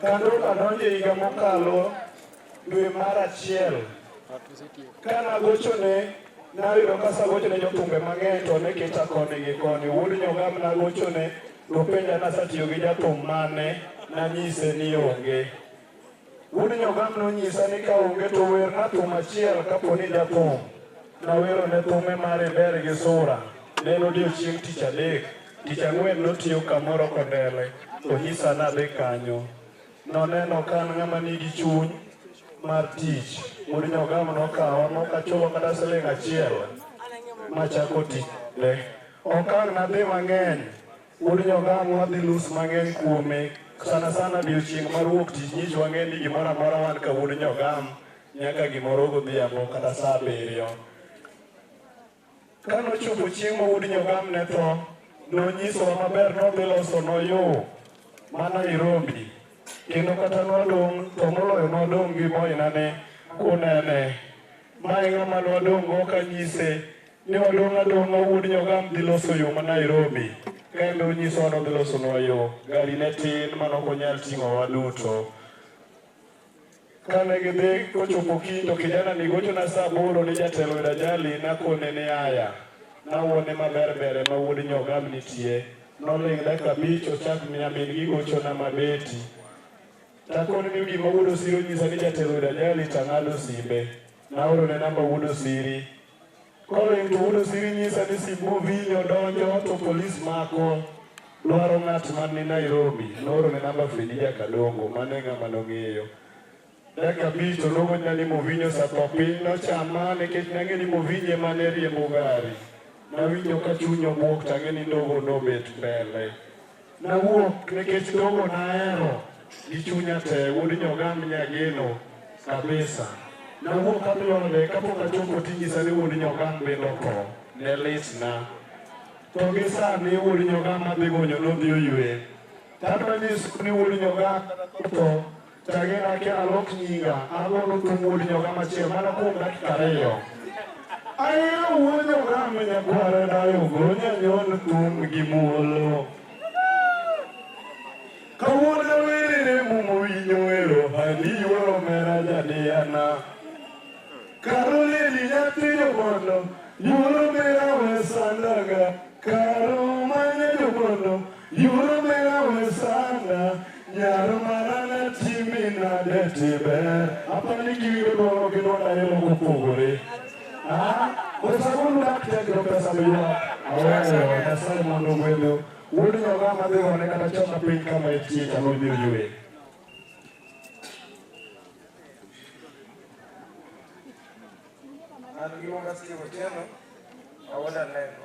Kane adonjo e higa mokalo dwe mar achiel, kane agochone nayudo ka asagochone jothumbe mang'eny to ne kita koni gi koni. Wuod Nyogam nagochone nopenja ni asetiyo gi jathum mane, nanyise ni onge. Wuod Nyogam nonyisa ni ka onge to werna thum achiel kapo ni jathum. Nawerone thume mar Iber gi Sura, ne en odiechieng' tich adek. Tich ang'wen notiyo kamoro kondele, onyisa nadhi kanyo. Noneno ka an ng'ama nigi chuny mar tich. Wuod Nyogamo nokawa mok achulo kata siling' achiel machako tichne. Ok ang' nadhi mang'eny, wuod Nyogamo wadhi nus mang'eny kuome sana sana odiechieng' mar wuok tich nyicha wang'e ni gimoro amora wan ka wuod Nyogamo nyaka gimoro godhiambo kata saa abiriyo. Ka nochopo chieng' ma wuod Nyogam ne tho, nonyisowa maber ni odhi losonwa yo ma Nairobi, kendo kata nwadong' to moloyo nwadong' gi moinane kunene. Ma e ng'ama nwadong'go kanyise ni wadong' adong'a wuod Nyogam dhi loso yo ma Nairobi, ka en be onyisowa ni odhi losonwa yo. Gari ne tin ma ne ok onyal ting'owa duto. Kane gidhi kochopo kiny to kijanani gochona saa aboro ni jatelo oyudo ajali nakone ni aya nawuone maber ber ema wuod nyogam nitie. Noling' dakika abich ochak miya min gi gochona ma Betty takone ni gima wuod Osiri onyisa ni jatelo oyudo ajali tang'ado simbe. Naorone namba wuod Osiri Koro intuudo siri nyisa ni Simbu Vinyo donjo to polis mako dwaro ng'at man ni Nairobi noorone namba Fredi Jakadongo mane ng'ama nong'eyo dakika abich to nowachna ni Movinyo osetho piny nochama nikech nang'e ni Movinyo ema ne riembo gari nawinjo ka chuny obwok tang'e ni ndogo nobet mbele Nawuok nikech dongo nahero gi chunya te wuod nyogam nyageno kabisa. Nawuok kapione kapok achopo tinyisa ni wuod nyogam bende otho. Ne litna. To gi sani wuod nyogam adhi gonyo nodhi oywe. Tadwa nyiso ni wuod nyogam otho. Tagena ke alok nyinga, agolo tung' wuod nyoga machiel mana kuom dakika ariyo. Ahero wuod nyoga ma nyakwara dayo gonya nyon thum gi muolo. Kawuono werere mumo winyo wero handi yuoro mera jadiyana. Karo leli nyathi jobondo, yuoro mera wesandaga. Karo manya jobondo, Yurumela wesana nyaro marana timi nade tiber apani giwiro dwaro gi dwara yelo kopogore wesagulu daktegro pesa miwa aweyo nyasaye mondo gwedho wuod nyoga madhi one kata choma piny kama etie chalo biro ywe An giwonga Steve Otieno, awoda neno.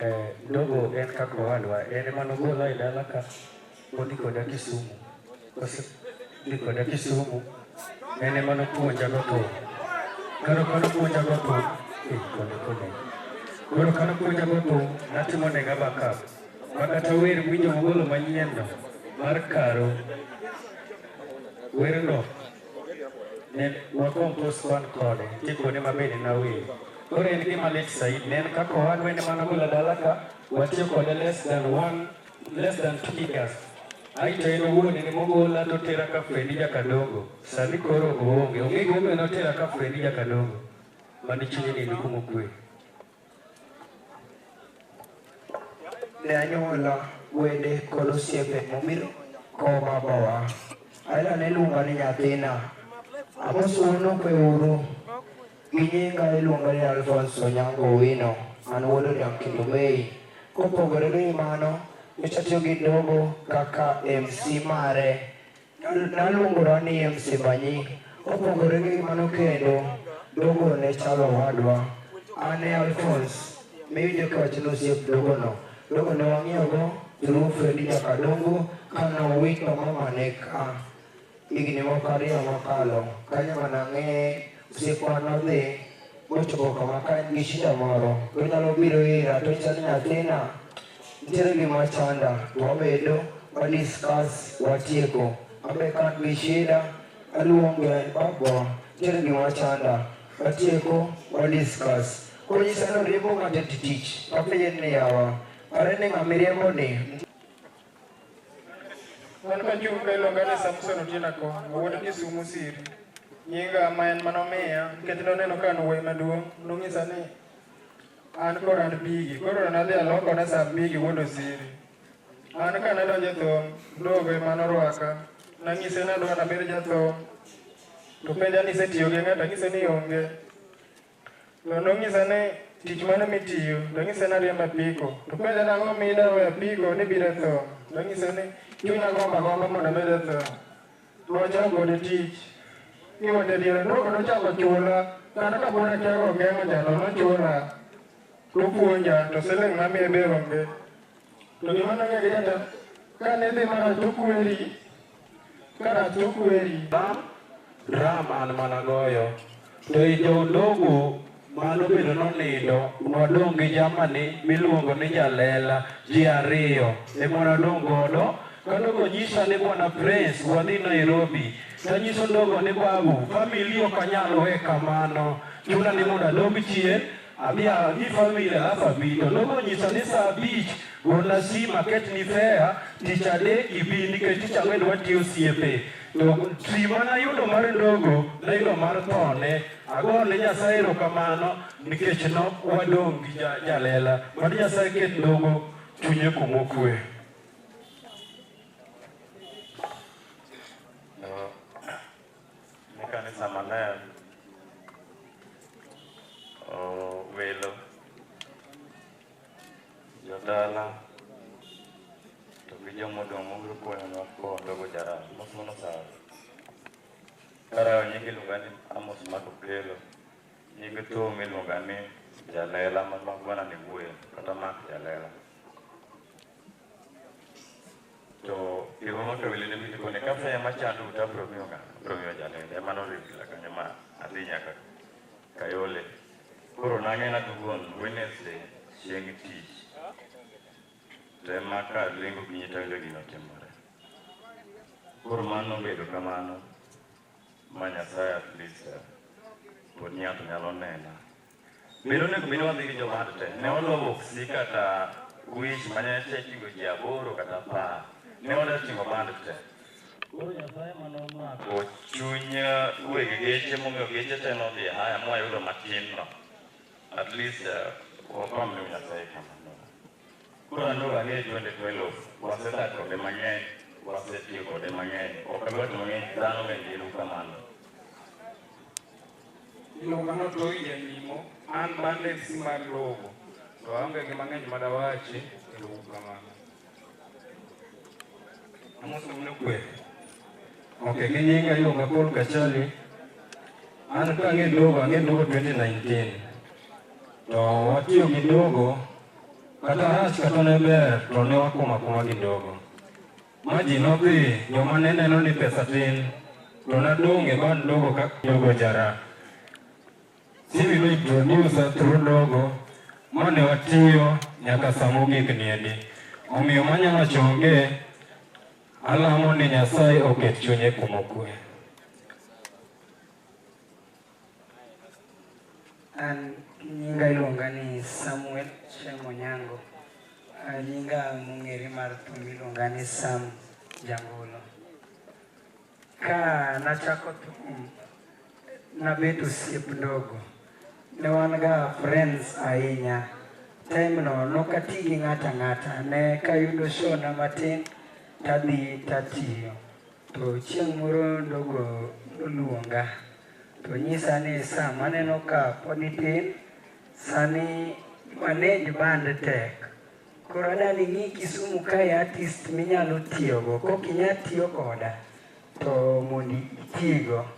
Eh, ndogo en kaka owadwa en ema nogolwa e dala ka odhi koda Kisumu kose dhi koda Kisumu en ema nopuonja go thum koro ka nopuonja go thum eh, kone kone koro ka nopuonja go thum natimo nega backup ma kata wer winjo mogolo manyienno mar karo werno Ne wakompos wan kode, tikone maber en awil. Koro en gima lit said, ne en kaka owadwa wende mana golo dala ka, watiyo kode less than one, less than two years. Aito en owuon en mogola to tera ka Fredi Jakadongo. Sani koro oonge, onge gimomiyo notera ka Fredi Jakadongo. Mani chunye ni nikumo kwe. ne anyuola, wede kod osiepe mobiro koma bowa. Ayla ne luonga ni nyathina. Amosuono kweuru. Gi nyinga iluonga ni Alphonse Onyango Owino. An wuod Odiang' kendo Mei. Kopogore gi mano, nyocha atiyo gi dogo kaka MC mare Naluongora ni msimba nying. Kopogore gi mano kendo, dogo ne chalo owadwa. An e Alphonse, miwinjo kiwacho ni osiep dogono. Dogo ne wang'iyogo through Fredi Nyakadongo ka nowito mamane ka higni moko ariyo mokalo. Kanyo ema nang'eye Osiepwa nodhi mochopo kama ka en gi shida moro tonyalo biro ira tonyisa ni nyathina nitiere gima chanda to wabedo wa discuss watieko abe ka an gi shida aluongo en babwa nitiere gima chanda watieko wa discuss koro nyisa ni oriembo ng'ato e tich apenje ni yawa are ni ng'a miriembo ni Wan ka Jumbe iluonga ni Samson Otieno Akonga, wuod Kisumu Siri. Nyinga ma en manomiya, nikech noneno ka an wuoyi maduong', nonyisa ni an kod an bigi. Koro nadhi alokone sa bigi wuod Osiri. An ka nadonjo e thum, dogo ema norwaka. Nanyise nadwa nabed jathum, to penja ni isetiyo gi ng'ato, anyise ni onge. No, nonyisa ni tich mane mitiyo, nonyisa ni ariembo apiko. To penja nang'o mida we apiko ni bire tho. Nonyisa ni chunya gomba gomba mondo mede tho. Nochako gode tich. Kiwete diere, noko nochako chula. Kata ka pona kiago geng'o jalo, nochula. Topuonja, to siling' mamiye be onge. To gima nang'e gi jata, kane dhi mara to kweri, Karatokweri. Dram an mana goyo. To i jodongo mano bedo nonindo wadong' gi jamani miluongo ni jalela ji ariyo ema nadong' godo kadogo nyisa ni bwana prince wadhi nairobi tanyiso ndogo ni babu famili ok anyal we kamano chuna ni mondo adog chien Amiya ni famili alafa bito nokonyisa ni saa abich gona sim aket ni fea tich adek ibi nikech tich ang'wen watiyo osiepe to sima nayudo mar ndogo nayudo mar thone agone nyasaye erokamano nikech no wadong' gi jalela mad nyasaye ket ndogo chunye kumokwe ne kanisa maler oh, welo jodala to gi joma odong' mobiro konyowa koondogo jaram mos mono sawa karawo nyinge iluonga ni amos mako kelo nyinge thum iluonga ni jalela ma magwana ni wuoyo kata mak jalela to iromo to wele mi kone ka fe ma chando uta bro mi onga bro mi ojane ne ma no rigi la kanya ma adhi nyaka kayole koro nange na dugon wednesday chieng tich te ma ka lingo gi nyita wele gino timore koro mano bedo kamano ma nyasaye at least pod ng'ato nyalo nena Bedo onego bed wadhi gi jowad te. Ne wadwa boksi kata wich mane te ting'o ji aboro kata apar. Ne wadwa ting'o band te. Koro Nyasaye mane omako chuny weg geche momiyo geche te nodhi e haya mwayudo matin no. At least eh, wapam ne Nyasaye kamano. Koro aneno ang'e twende twelo. Wasedak kode mang'eny. Wasetiyo kode mang'eny. Ok adwa to mang'eny dhano bende ero kamano. Iluongano to owinjo nyimo, an bande si mar logo, to aonge gi mang'eny ma dawachi, kendo uru kamano. Amoso mune kwe. Ok, gi nyinga iluonga Paul Kachali. An ka ang'e dogo, ang'e dogo 2019. To watiyo gi dogo, kata rach kata ne ber, to ne wakoma kuma gi dogo. Ma ji nodhi, joma ne neno ni pesa tin, to nadong' e bad ndogo ka jogo jara. Simi nointrodusa through ndogo ma ne watiyo nyaka sa mogik niendi. Omiyo manya wacho onge, alamo ni Nyasaye oket chunye kuma okue. An nyinga iluonga ni Samuel Shemo Nyango. Ah, Nyinga mong'ere mar thum iluonga ni Sam Jangolo. Ka nachako thum, nabet osiep ndogo. Ne wan ga friends ahinya. Time no nokati gi ng'ata ng'ata. Ne kayudo show na matin, tadhi tatiyo. To chieng' moro ndogo noluonga to nyisa ni sa maneno ka pod itin, sani manage band tek. Koro adani ng'i Kisumu kae artist minyalo tiyogo, kok inya tiyo koda to mondo itigo.